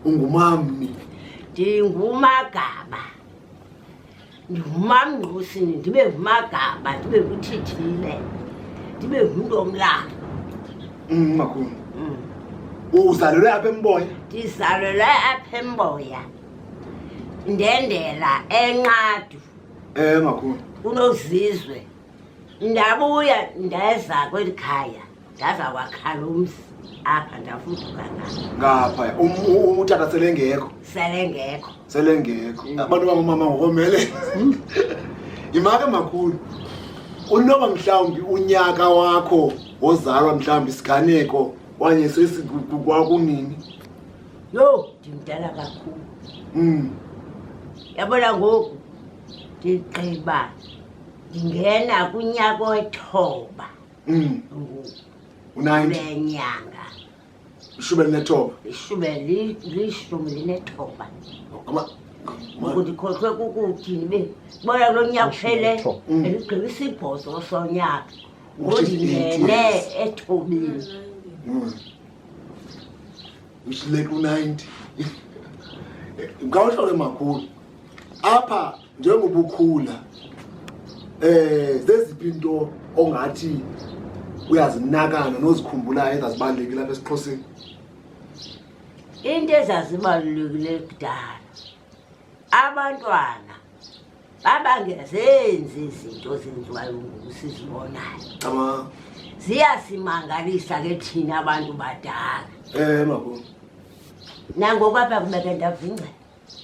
ungumamni ndingumagaba ndingumamngqusini ndibe ngumagaba ndibe nguthithile ndibe ngumntu omlanga Mm, makhulu Mm. uzalelwe apha emboya ndizalelwe apha emboya ndendela enqadu um makhulu kunozizwe ndabuya ndeza kweli khaya ndaza wakhala umsi apha ndafuduka ngapha um, utata selengekho selengekho selengekho mm. abantu bangomama ngokomele mm. yimake makhulu unoba mhlawumbi unyaka wakho wozalwa mhlawumbi isiganeko wanye sesikwakunini yho ndimdala kakhulu mm. yabona ngoku ndigqiba ndingena kunyaka wethoba Mm. Unayinti. Unenyanga. Ishumi elinethoba. Ishumi lishumi linethoba. Ngikhohlwe kukuthini be. Bona lo nyaka uphele mm. eligqiba isibhozo sonyaka. Ngondingene ethobile. Mm. Ushileka u-90. Ngawuhlole makhulu. Apha njengoba ukhula um zeziphi into ongathi uyazinakana nozikhumbulayo engazibaluleki lapha esixhoseni into ezazibalulekile kudala abantwana babangezenzi izinto zenziwayo ngoku sizibonayo ziyasimangalisa ke thina abantu badala um eh, mabo nangoku apha kubeke ndavingcela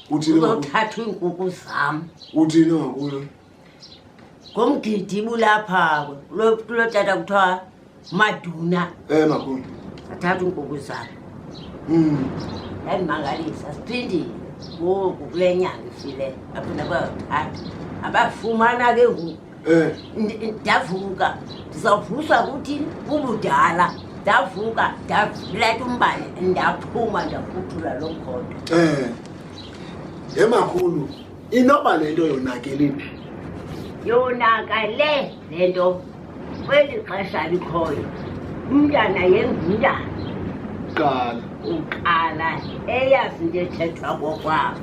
uthini ngakuyo uzothathwa iinkuku zam uthini ngakuyo ngomgidi bulapha kulo kulo tata kuthiwa maduna eh makhulu athatha iinkuku zam Mm. yandimangalisa siphindile ngoku kule nyanga ifile aphinda kwayothatha abafumana ke ngoku Eh. Ndi- ndavuka ndizawuvuswa kuthi bubudala ndavuka ndaleta umbane ndaphuma ndakhuthula loo mkhondo Eh. Emakhulu, inoba le nto yonakele phi? yonakale le nto kweli xesha likhoyo umntana yengumntana Qala. uqala eyazi into ethethwa kokwabo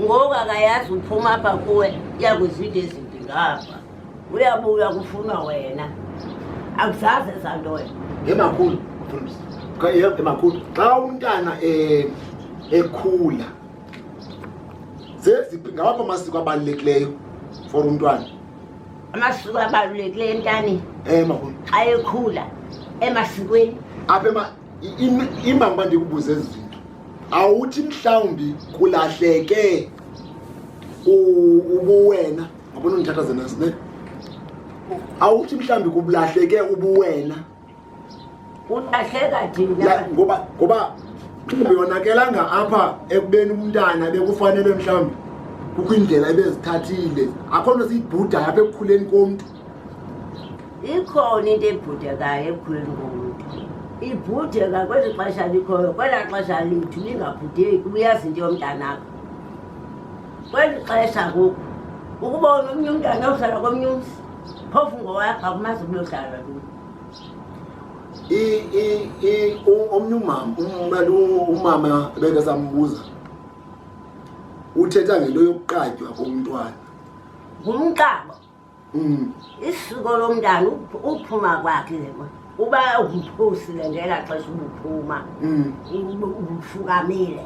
ngoku akayazi uphuma apha kuwe yakuzide ezinto Ngapha uyabuya kufunwa wena akuzaze santoya emakhulu emakhulu xa umntana eh, ekhula zeziphi ngawaphi amasiko abalulekileyo for umntwana amasiko abalulekileyo entani eh, emakhulu xa ekhula emasikweni apha imbamba ndikubuze ezi zinto awuthi mhlawumbi kulahleke ubuwena ngabona undithatha zena sine awuthi mhlawumbi kubulahleke ubuwena kulahleka thina ngoba ngoba uyonakelanga apha ekubeni umntana bekufanele mhlawumbi kukho indlela ebezithathile akho nto siyibhudayo apha ekukhuleni komntu Ikhona into ebhudekayo ekhuleni komntu. Ibhudeka kweli xesha likhoyo, kwelaa xesha lethu lingabhudeki, uyazi into yomntanakho. Kweli xesha ngoku, ukuba unomnye umntana ohlala komnye umzi, phofu ngowakho akumazi uba uyohlala kuyo. I- i- i- u- omnye umama um- kanti u- umama beke sambuza uthetha ngento yokuqatywa komntwana Ngumqabo. Mm. isiko lomntana uph- uphuma kwakhe ke manje. uba umphusile ngela xesha ubuphuma Mm. ub- ubufukamile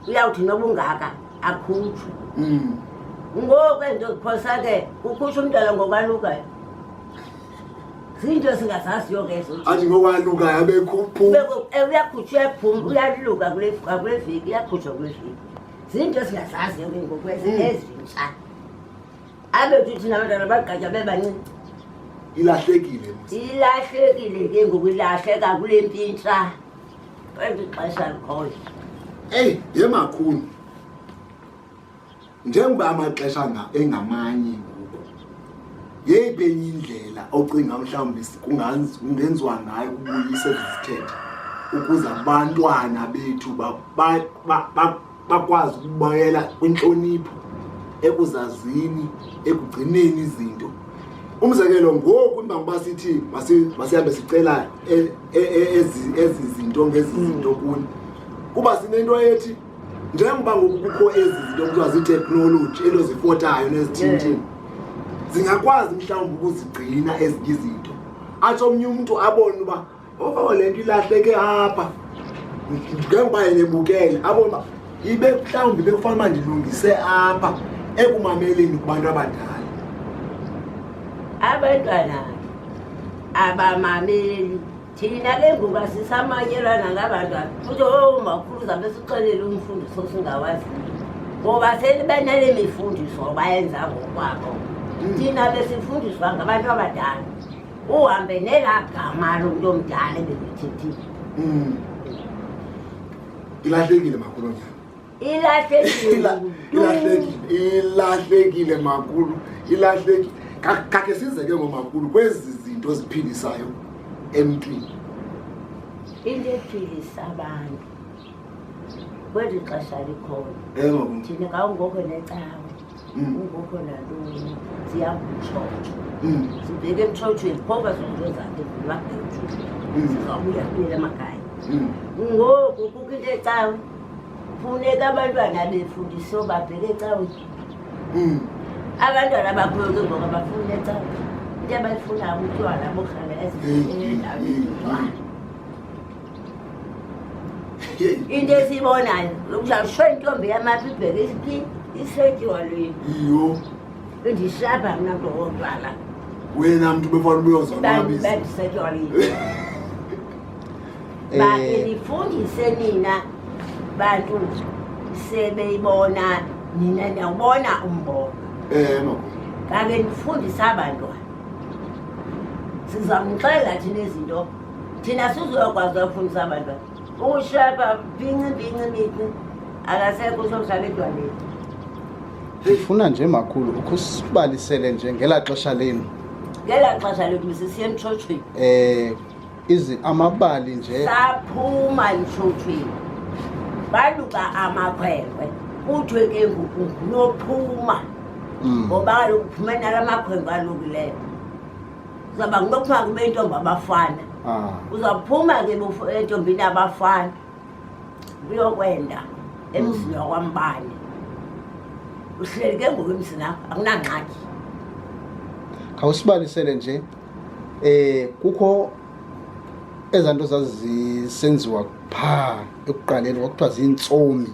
uyawuthi noba ungaka akhutshwe Mm. ngoku endoziphosa ke ukhusha umntana ngokwalukayo zinto esingazaziyo ke ezo athi ngokwalukayo abekhuphu Beko- eh, uyakhutshwa uyaphuma uyaluka kule kule veki uyakhutshwa kule veki zinto esingazaziyo ke ngoku ezi- ezintsha abe uthi nabantwana bagqatya bebaninzi ilahlekile ilahlekile ke ngoku ilahleka kule mpintsha kwezi xesha likhoyo eyi ye makhulu njengoba amaxesha engamanye ngoku yeyiphi enye indlela ocinga mhlawumbi kungenziwa ngayo ukubuyisa ezi zithethe ukuze abantwana bethu bakwazi ukubuyela kwintlonipho ekuzazini ekugcineni izinto umzekelo ngoku imbangoba sithi masihambe sicela e, e, e, ezi zinto ngezi hmm. zinto kuni kuba sinento ethi njengoba ngoku kukho ezi zinto kuthiwa ziiteknoloji elo zifotayo nezithintini zingakwazi mhlawumbi ukuzigcina ezinye izinto atsho omnye umntu abone uba Oh le nto ilahleke apha njengoba yebukele abona ibe mhlawumbi bekufanele uba ndilungise apha ekumameleni kubantu abadala abantwana abamameli thina ke ngoku asisamanyelwana ngabantwana futhi oomakhulu oh, zabe sixelele umfundiso singawaziyo ngoba selibenele mifundiso bayenza ngokwabo hmm. thina besifundiswa ngabantu abadala uhambe nelaa gama lo mntu omdala ebekuthethile Mm. ilahlekile makhulu nyana ilahlekile Ila- ilahlekile ilahlekile makhulu ilahlekile Ka- kakhe size ke ngomakhulu kwezi zinto ziphindisayo emntwini into ephilisa abantu kweli xesha likhona engoku thina kawungoko necawe kukhona nto ziyamtshotsho sibheke emtshotshweni phoba zonto zakhe zimabhethu zizawubuya kuyela amakhaya ngoku kukho into ecawe funeka abantwana befundise obabheke ecawe abantwana bakhoyo ke ngoba bafuna ecawe into abayifunayo butywala bohlala ezindaweni into esiyibonayo lokushalisho intombi yamaphi ibheke isiphi isetyiwa lwini iyo bendihlapha mna mntu wotywala wena mntu befana ubuyoza bendisetyiwa lwini ba eh. ndifundise nina bantu sebeyibona nina ndiyawubona umbona eh, kake ndifundise abantwana sizamxelela thina izinto thina sizokwazi wafundisa abantu ba ushapa bhinci bhinci mithi akasekho usomhlala edwaleni ndifuna nje makhulu ukhusibalisele nje ngela xesha lenu ngela xesha lethu misisiye emtshotshweni um izi amabali nje saphuma emtshotshweni baluka amakhwenkwe kuthiwe ke ngoku nophuma mm. ngoba kaloku phumena la makhwenkwe alukileyo uzawuba kunokuthiwa kube intombi abafana ah. uzawuphuma ke entombini abafana uyokwenda emzini hmm. wakwambane uhleli ke ngoku emzini akho akunangxaki khawusibalisele nje eh kukho ezaa nto zazisenziwa phaa ekuqaleni kwakuthiwa ziintsomi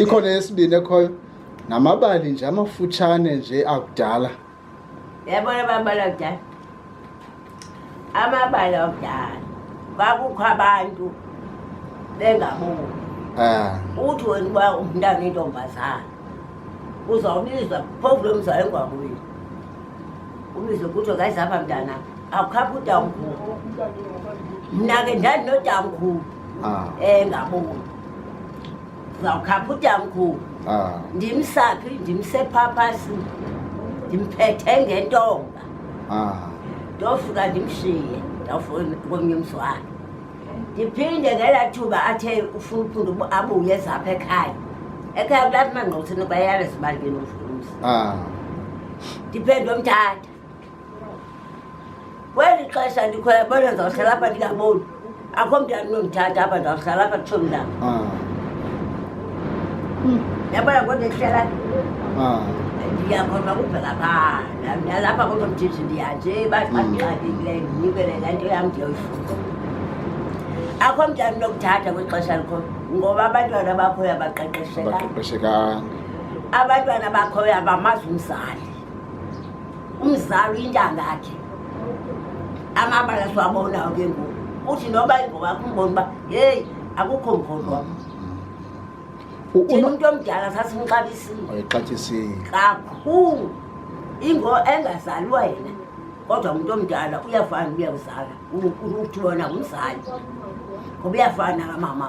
ikhona yesibini ekhoyo namabali nje amafutshane nje akudala yabona amabali akudala amabali akudala kwakukho abantu bengaboni ah. uthi wena uba umntana intombazana uzawubizwa phovu lo mzali engwakuyo ubizwe kuthiwe ngayizapha mntana awukhapha utamkhulu mna ke ndandinotamkhulu Ah. Eh ngabona. Zawukhapha udyamkhulu. Ah. Ndimsaphi ndimsephapasi. Ndimphethe ngentonga. Ah. Ndofika ndimshiye. Ndawufuna komnye umswana. Ndiphinde ngela thuba athe ufuna uphinde abuye zapha ekhaya. Ekhaya kulapha mangqothini bayalezibali ke nomfundisi. Ah. Ndiphinde omthatha. kweli xesha ndikhona bona ndizawuhlala apha ndingaboni akho mntu andinomthatha apha ndizawuhlala apha tsho mntam ah. hmm. yabona kodwa ndihlala ah. ndiyakhona ukuvela phaa nalapha kodwa mthithi ndiyanje bandixakekile hmm. ndinikele le nto yam ndiyoyifuna akho mntu andinokuthatha kweli xesha likhona ngoba abantwana bakhoyo abaqeqeshekanga abantwana bakhoyo abamazi umzali umzali uyintanga yakhe amabala siwabonayo ke ngoku uthi noba ingowakho umbona uba yeyi akukho mkholwa umntu omdala sasimxabisile kakhulu ingo engazalwa yena kodwa umntu omdala uyafana uyakuzala uthi wona ngumzali ngoba uyafana kamama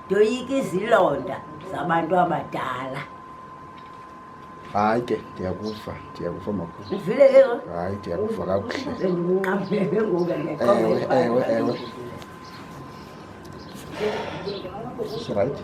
ndoyika izilonda zabantu abadala hayi ke ndiyakuva ndiyakuva makhulu uvile ke hayi ndiyakuva kakuhle ndinqamele ngoku ewe ewe ewe sirayithi